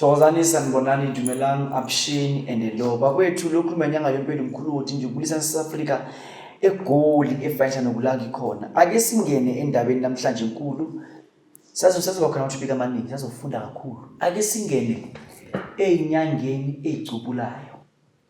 Thokozani sanibonani dumelang abshini and hello bakwethu lokhu menyanga yempilo mkhulu wothi nje ubulisa eSouth egoli efanisha nokulanga ikhona ake singene endabeni namhlanje enkulu sazo sazokhona ukuthi bika amaningi sazofunda kakhulu ake singene ezinyangeni ezicubulayo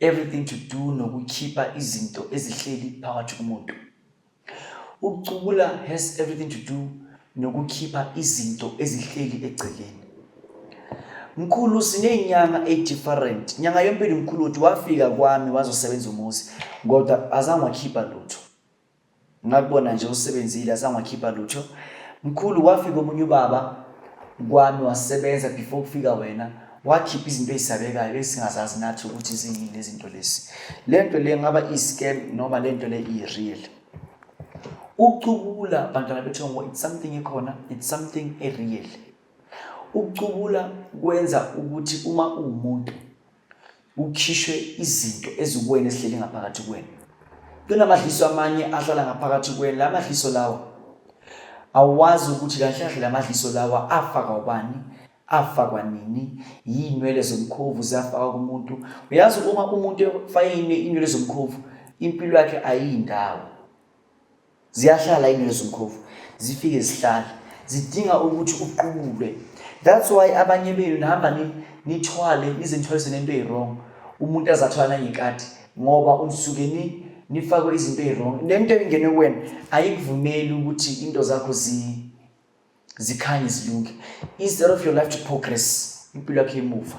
everything to do nokukhipha izinto ezihleli phakathi kumuntu ukucubula has everything to do nokukhipha izinto ezihleli egcekeni mkhulu sinenyanga edifferent nyanga yompilo mkhulu uthi wafika kwami wazosebenza umuzi kodwa azange wakhipha lutho Ngakubona nje usebenzile azange wakhipha lutho. Mkhulu wafika omunye ubaba kwami wasebenza before kufika wena wakhipha izinto ezisabekayo esingazazi nathi ukuthi ziyini lezinto lezi. Lento le ngaba i-scam noma lento le i-real. Ucubula bantwana bethu ngo it's something ekhona, it's something e-real. Ucubula kwenza ukuthi uma uwumuntu Kukhishwe izinto ezikuwena ezihleli ngaphakathi kwena. Kunamadliso amanye ahlala ngaphakathi kwena. La madliso lawa awazi ukuthi kahle kahle la madliso lawa afaka ubani afakwa nini yinwele zomkhovu zafaka kumuntu uyazi uma umuntu efayine inwele zomkhovu impilo yakhe ayindawo ziyahlala inezimkhovu zifike zihlale zidinga ukuthi uqubule that's why abanye benu nihamba nithwale nizimthwalise nento eyi-wrong umuntu azathwala nangekati ngoba usuke ni nifakwe izinto eyi-wrong le nto engene kuwena ayikuvumeli ukuthi into zakho zikhanye zilunge instead of your life to progress impilo yakho emuva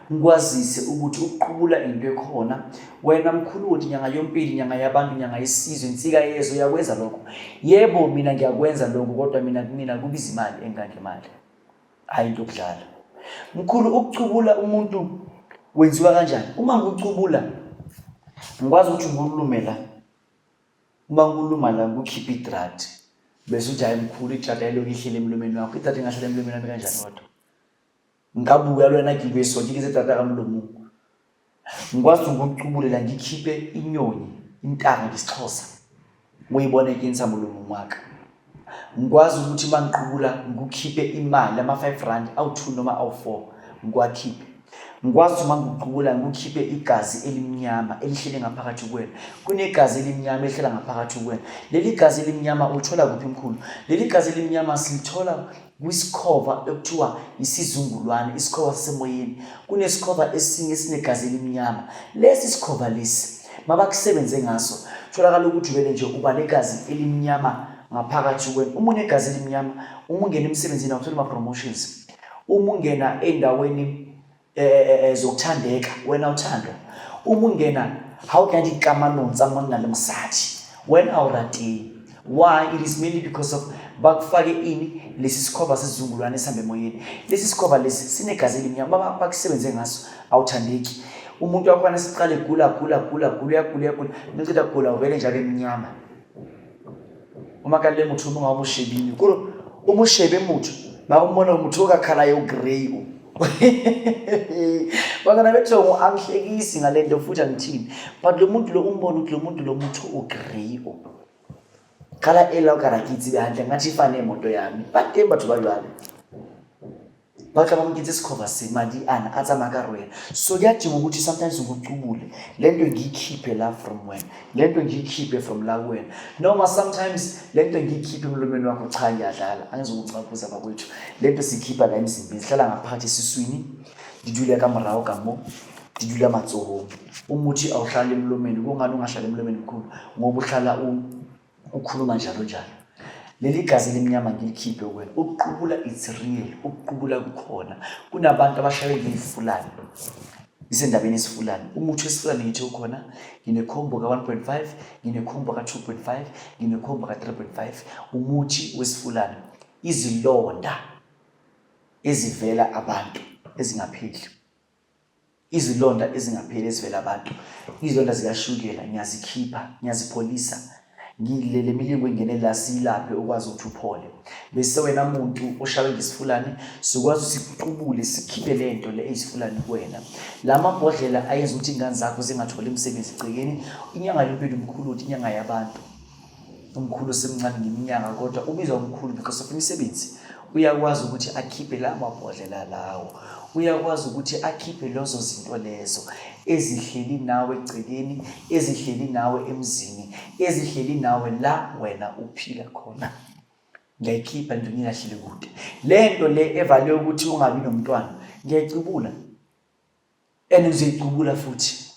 ngikwazise ukuthi ukuqubula into ekhona wena mkhulu ukuthi nyanga yompili nyanga yabantu nyanga yesizwe insika yezwe uyakwenza lokho yebo mina ngiyakwenza lokho kodwa mina kumina kubiza imali engangemali hhayi into okudlala mkhulu ukucubula umuntu wenziwa kanjani uma ngikucubula ngikwazi ukuthi ngikulume la uma ngikuluma la ngikukhiphe idrati bese uthi hhayi mkhulu idrati ayiloku ihlele emlomeni wakho idrati ingahlele emlomeni wami kanjani kodwa nka bua le wena ke beso ke ketse tata ka molomong ngikwazi ukucubulela ngikhiphe inyoni intanga ngesixhosa uyibone ke ntsha molomong wa ka ngikwazi ukuthi uma ngiqubula ngikukhiphe imali ama-five rand awu-two noma awu-four ngiwakhiphe ngikwazi ukuthi uma ngikuqubula ngikukhiphe igazi elimnyama elihlele ngaphakathi kuwena kunegazi elimnyama elihlela ngaphakathi kuwena leli gazi elimnyama ulithola kuphi mkhulu leli gazi elimnyama silithola Kwisikhova ekuthiwa isizungulwane, isikhova sasemoyeni, kunesikhova esinye esinegazi elimnyama. Lesi sikhova lesi mabakusebenze ngaso, tholakala ukuthi vele nje uba negazi elimnyama ngaphakathi kuwena. Uma unegazi elimnyama, uma ungena emsebenzini awutholi ama-promotions. Uma ungena ey'ndaweni zokuthandeka wena uthando uma ungena how can it come anonsa monna lomsathi wena awuratini why it is mainly because of bakufake ini lesi sikhova sezizungulwane esihambe emoyeni lesi sikhova lesi sinegazi elimnyama baba bakusebenze ngaso awuthandeki umuntu wakhona siqale gula gula gula gula uyagula uyagula ninceda gula uvele njalo emnyama umakale motho o mongwe wa boshebile kore o moshebe motho ba o mona motho o ka khala yo grey o bakona bethe angihlekisi ngale nto futhi angithini but lo muntu lo umbona ukuthi lo muntu lo motho o grey o khala ela o kara ke itse hantle ngathi ifane moto yami ba teng batho ba jwale ba tla ba mo kentse sekhova se madi ana a tsamaya ka rwena so ke a timo ukuthi sometimes go cubule le nto ngiyikhiphe la from wena le nto ngiyikhiphe from la wena noma sometimes le nto ngiyikhiphe emlomeni wakho cha ngiyadlala angizokucakuza bakwethu le nto siyikhipha la emzimbeni sihlala ngaphakathi esiswini ndidule ka morago ka mo ndidule matsohong umuthi awuhlali emlomeni kungani ungahlali emlomeni mkhulu ngoba uhlala u ukhuluma njalo njalo leli gazi elimnyama ngilikhiphe kuwena ukuqubula it's real ukuqubula kukhona kunabantu abashaywe ngiyifulani isendabeni esifulani umuthi wesifulani ngithi ukhona nginekhombo ka-1.5 nginekhombo ka-2.5 nginekhombo ka-3.5 umuthi wesifulani izilonda ezivela abantu ezingapheli izilonda ezingapheli ezivela abantu izilonda zikashukela ngiyazikhipha ngiyazipholisa ngilele milingo engene la silaphe ukwazi ukuthi uphole bese wena muntu oshawe ngesifulane sikwazi sikuqubule sikhiphe le nto le eyisifulane kuwena la mabhodlela ayenza ukuthi ingane zakho zingatholi imisebenzi igcekeni inyanga yempilo mkhulu ukuthi inyanga yabantu umkhulu semncane ngeminyaka kodwa ubizwa umkhulu because of imisebenzi uyakwazi ukuthi akhiphe la mabhodlela lawo uyakwazi ukuthi akhiphe lezo zinto lezo ezihleli nawe egcekeni ezihleli nawe emzini ezihleli nawe la wena uphila khona ngiyayikhipha nje ngingahleli kude le nto le evale ukuthi ungabi nomntwana ngiyayicubula and uzicubula futhi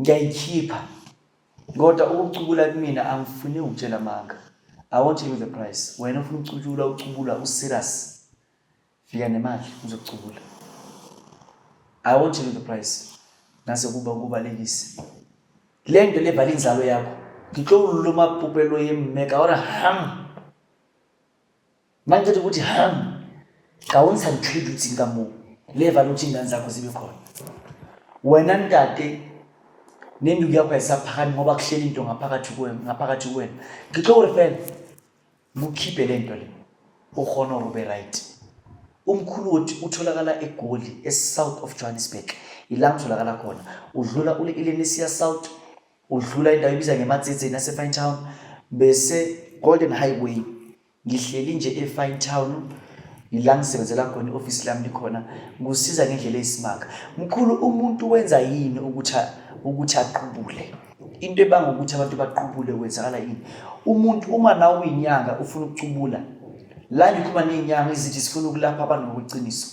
ngiyayikhipha kodwa ukucubula kumina angifuni ukutshela amanga i won't tell you the price wena ufuna ukucutshula ucubula userious fika nemali uzokucubula i won't tell you the price nase kuba kubalekise le nto levala inzalo yakho ngitlo ululuma pupelo yemmeka ora ham Mangithetha ukuthi ham kawunisa ngitreat ukuthi nkamu leva lokuthi ingane zakho zibe khona. Wena ntate nenduku yakho ayisaphakami ngoba kuhleli into ngaphakathi kuwena ngaphakathi kuwena. Ngixoxa urefela mukhiphe le nto le ukhona ube right. Umkhulu wothi utholakala eGoli eSouth of Johannesburg. Ila ngitholakala khona. Udlula ule Ilenesia South udlula indawo ibiza ngematsitsi naseFine Town bese Golden Highway Ngihleli nje eFine Town yila ngisebenzela khona i-ofisi lami likhona ngikusiza ngendlela eyisimanga. Mkhulu umuntu wenza yini ukuthi ukuthi aqubule? Into ebanga ukuthi abantu baqubule kwenzakala yini? Umuntu uma nawe uyinyanga ufuna ukucubula la ngikhuluma ney'nyanga ezithi sifuna ukulapha abantu ngokuqiniso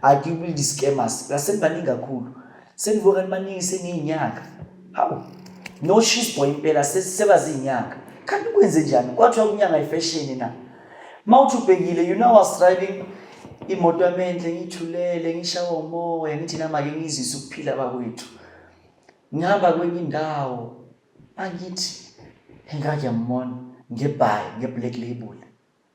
akikubi i-scammers basebaningi kakhulu Sengivuka nibaningi sengiyinyanga. Hawu. No she's boy impela sebazinyanga. Kanti kwenze njani? Kwathiwa kunyanga ifashion na. Mawuthi ubhekile you know I was driving imoto yami enhle ngithulele ngishawa umoya ngithi nama ke ngizise ukuphila bakwethu. Ngihamba kwenye indawo angithi engake yambona ngebhayi ngeblack label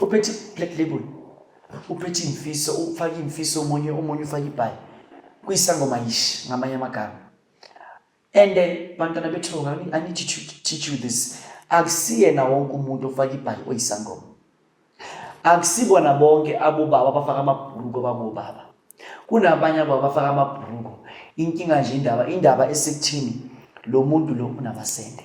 uphethe black label uphethe imfiso ufake imfiso omunye omunye ufake ibhayi kuyisangoma yish ngamanye amagama and eh, bantwana bethu i need to teach you this akusiyena wonke umuntu ofake ibhayi oyisangoma akusibona bonke abobaba abafaka amabhuruko babobaba kunabanye abo abafaka amabhuruko inkinga nje indaba indaba esekuthini lo muntu lo unamasende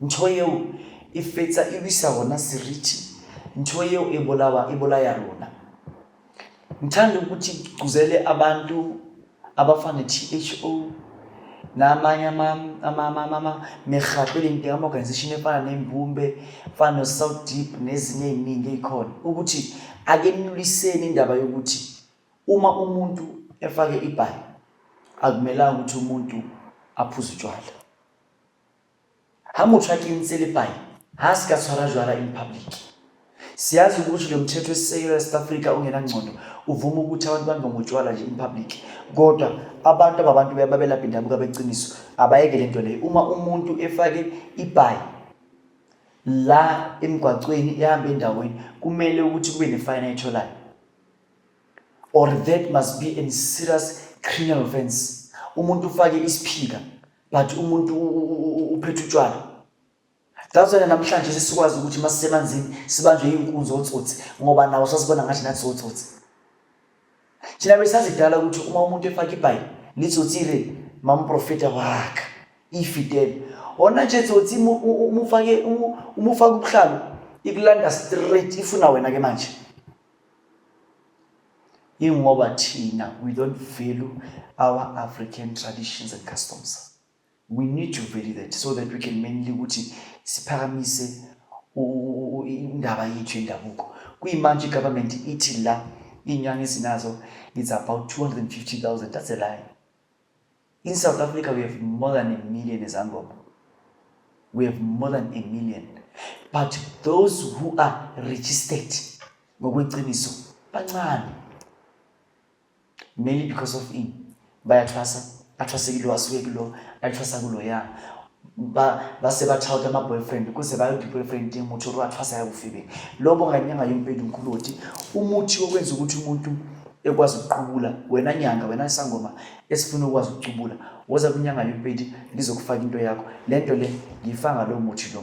ntho eo e fetsa e wisa rona seriti ntho eo e bolawa e bolaya rona ngithanda ukuthi kuzele abantu abafana ne-tho namanye amerhato eleng teng ama-organization efana nembumbe fana no-south deep nezinye ey'ningi ey'khona ukuthi akenuliseni indaba yokuthi uma umuntu efake ibhayi akumelanga ukuthi umuntu aphuze utshwala Ha motho a kentse lepayi ha a se ka tshwara jwala in public. Siyazi ukuthi lo mthetho esisekelo eSouth Africa ongenangcondo uvuma ukuthi abantu bambe ngotshwala nje in public kodwa abantu ababantu babelaphi ndabuka beqiniso abayeke lento leyo uma umuntu efake ibhayi la emgwaqweni ehamba endaweni kumele ukuthi kube nefayini ayitholayo or that must be a serious criminal offense umuntu ufake isiphika but umuntu uphethe utshwala that's why namhlanje sesikwazi ukuthi uma sisemanzini sibanjwe iy'nkunzi otsotsi ngoba nawo sasibona ngathi nathi sotsotsi thina besazi kudala ukuthi uma umuntu efake ibhayi litsotsile mamprofeta wakhe ifidele ona nje tsotsi umufake umufake ubuhlalo ikulanda straight ifuna wena ke manje ingoba thina we don't value our african traditions and customs we need to value that so that we can mainly ukuthi siphakamise indaba yethu yendabuko kuyimanje igovernment ithi la iy'nyanga ezinazo it's about 250 000 that's a lie In South Africa, we have more than a million Zangoma. We have more than a million. But those who are registered, ngokweqiniso, bancane. Mainly because of in. Bayathwasa, athwasekile wasuke kulo, athwasa kulo ya. ba ba se ba tšhaote ma boyfriend ko se ba yo di-boyfriend teng motho ore wa tshwasa ya bofebeng lo bo nganyanga yompedi nkuloti umuthi okwenza ukuthi umuntu ekwazi ukuqubula wena nyanga wena sangoma esifuna ukwazi ukucubula woza kwinyanga yompedi ngizokufaka into yakho le nto le ngiyifanga lowo muthi lo